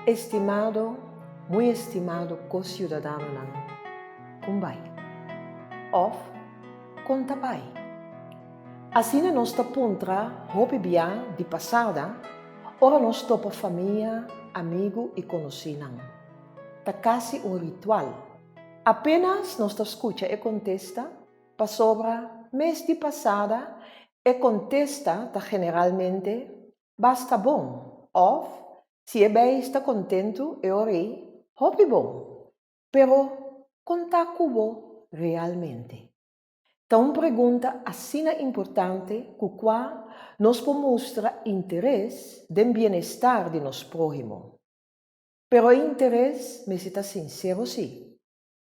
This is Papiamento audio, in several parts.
Estimado, muy estimado co-ciudadanonan, con bay? Of, con ta bay? Asina nos ta puntra hopi bia di pasada ora nos topa famia, amigu y conoci-nan. Ta casi un ritual. Apenas nos ta scucha e contesta, Pasobra, mes di pasada, e kontesta ta generalmente, Basta bon! òf, Si e beis ta kontentu e orei, Hopi bon! Pero, kon ta ku bo realmente? Ta un pregunta asina importante ku kua nos por mustra interes den bienestar di nos próhimo. Pero e interes mester ta sinsero sí.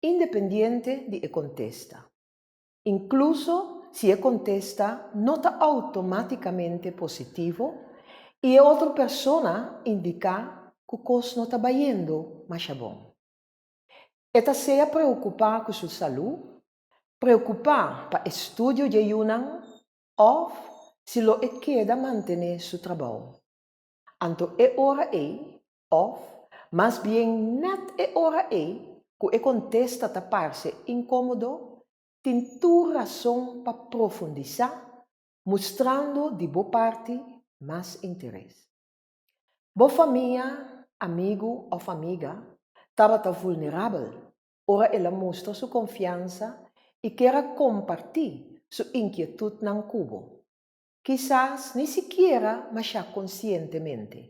Independiente di e contesta. Incluso si e contesta no ta automaticamente positivo y e otro persona indica cu cos no ta bayendo masha bon. E ta sea preocupa cu su salud, preocupa pa estudio dje yunan of si lo e keda mantene su trabao. Anto e ora ey Òf mas bien nèt e ora ei ku e kontesta ta parse inkómodo, tin tur rason pa profundisá mustrando di bo parti mas interes. Bo famia, amigu òf amiga tabata vulnerabel ora el a mustra su konfiansa i kier a kompartí su inkietutnan ku bo, kisas ni sikiera mashá konsientemente.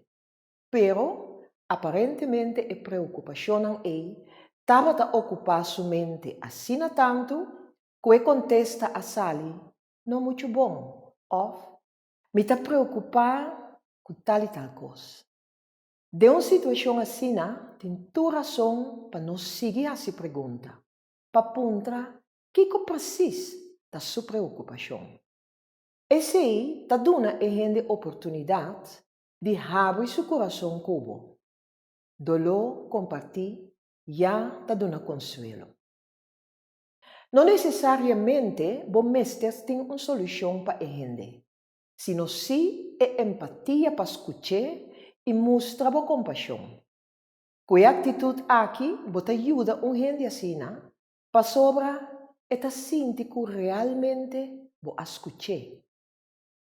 Pero, aparentemente e preokupashonnan ei tabata okupá su mente asina tantu ku e kontesta a sali no muchu bon òf Mi ta preokupá ku tal i tal kos. Den un situashon asina tin tur rason pa no sigui hasi pregunta pa puntra kiko presis ta su preokupashon. Esei ta duna e hende oportunidat di habri su kurason ku bo. Doló kompartí ya ta duna konsuelo. No nesesariamente bo mester tin un solushon pa e hende, sino sí e empatia pa skuch'é i mustra bo kompashon. Ku e aktitut aki bo ta yuda un hende asina pasobra e ta sinti ku realmente bo a skuch'é.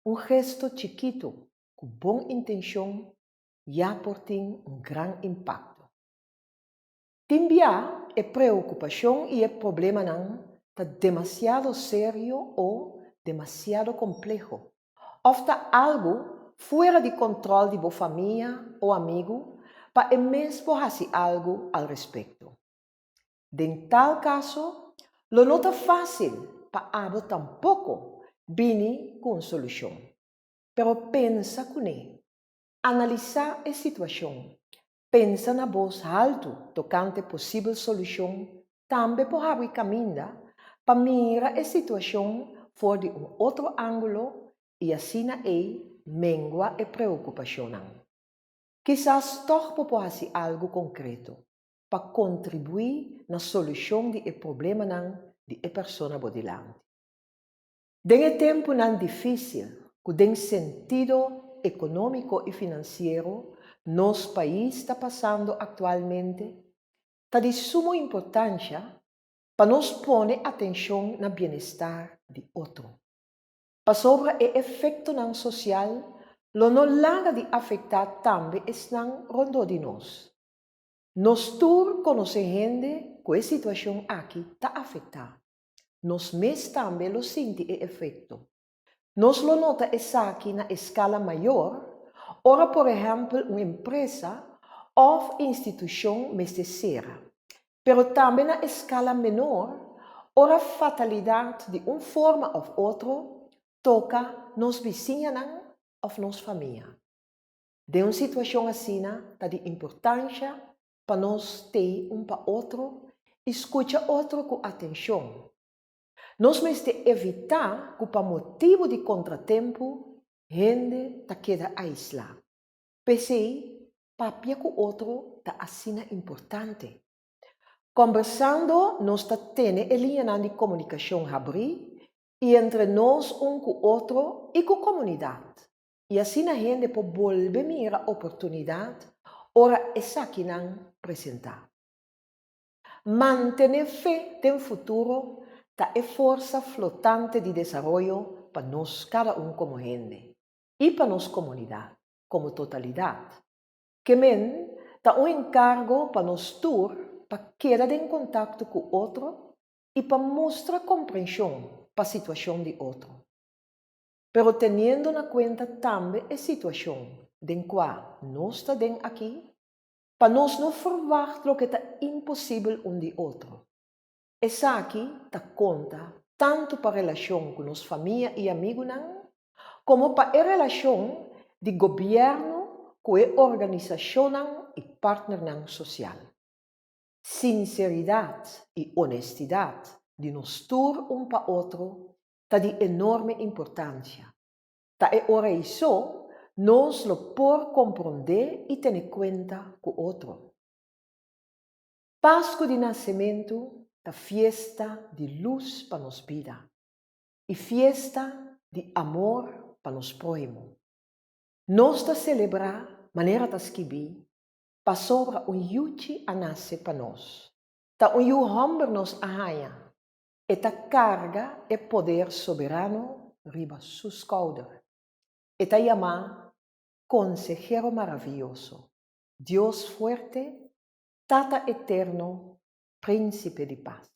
Un gesto chikitu ku bon intenshon ya por tin un gran impakto. Tin bia e preokupashon i e problemanan ta demasiado serio o demasiado kompleho, òf ta algu fuera di kòntròl di bo famia o amigu pa e mes por hasi algu al respekto. Den tal kaso, lo no ta fásil pa abo tampoko bini ku un solushon. pero pensa kuné. Analisá e situashon, pensa na bos haltu tokante posibel solushon tambe por habri kaminda pa mira e situashon for di un otro ángulo i asina ei mengua e preokupashonnan. Kisas tòg bo por hasi algu konkreto pa kontribuí na solushon di e problemanan di e persona bo dilanti. Den e tempunan difísil ku den sentido ekonómiko i finansiero nos pais ta pasando aktualmente, ta di sumo importansha pa nos pone atenshon na bienestar di otro. Pasobra e efektonan sosial lo no laga di afektá tambe esnan rondó di nos. Nos tur konosé hende ku e situashon aki ta afektá. Nos mes tambe lo sinti e efekto. Nos lo nota esaki na eskala mayor ora por ehèmpel un empresa òf institushon mester sera, pero tambe na eskala menor ora fatalidat di un forma òf otro toka nos bisiñanan òf nos famia. Den un situashon asina ta di importansha pa nos tei un pa otro i skucha otro ku atenshon. Nos mester evitá ku pa motibu di kontratempu hende ta keda aislá. P'esei, papia ku otro ta asina importante. Kombersando nos ta tene e liñanan di komunikashon habrí i entre nos un ku otro i ku komunidat. i asina hende por bolbe mira oportunidat ora esakinan presentá. Mantené fe den futuro ta e forsa flotante di desaroyo pa nos kada un komo hende i pa nos komunidat komo totalidat. Kemen ta un enkargo pa nos tur pa keda den kontakto ku otro i pa mustra komprenshon pa situashon di otro. Pero teniendo na cuenta tambe e situacion den cua nos ta den aki, pa nos no verwacht loke ta imposibel un di otro. Esaki ta conta tanto pa relacion cu nos famia y amigunan, como pa e relacion di Gobierno cu e organisacionnan y partnernan social. Sinceridad y honestidad di nos tur un pa otro ta di enorme importancia. Ta e ora eiso nos lo por comprende y tene cuenta cu otro. Pascu di Nacementu ta fiesta di luz pa nos bida y fiesta di amor pa nos prohimo. Nos ta celebra manera ta skibi, Pasobra un yuchi a nace pa nos. Ta un yu homber nos a haya, E ta karga e poder soberano riba su skouder. E ta yamá Konsehero Maravioso, Dios Fuerte, Tata Eterno, Prínsipe di Pas.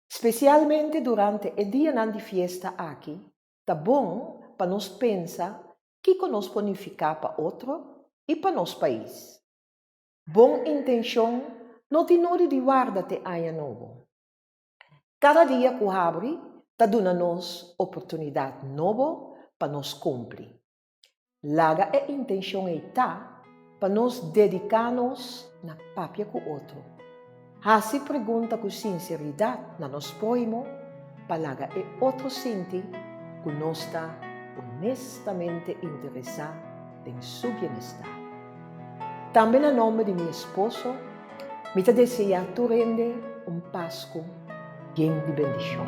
Spesialmente durante e dianan di fiesta aki, ta bon pa nos pensa kiko nos por nifiká pa otro i pa nos pais. Bon intenshon no tin nodi di warda te aña nobo. Kada dia ku habri ta duna nos oportunidat nobo pa nos kumpli. Laga e intenshon ei ta pa nos dediká nos na papia ku otro. Hasi pregunta ku sinseridat na nos próhimo pa laga e otro sinti ku nos ta onestamente interesá. den su bienestar. Tambe na nomber di mi esposo, mi ta deseá tur hende un Pasku bien di bendishon.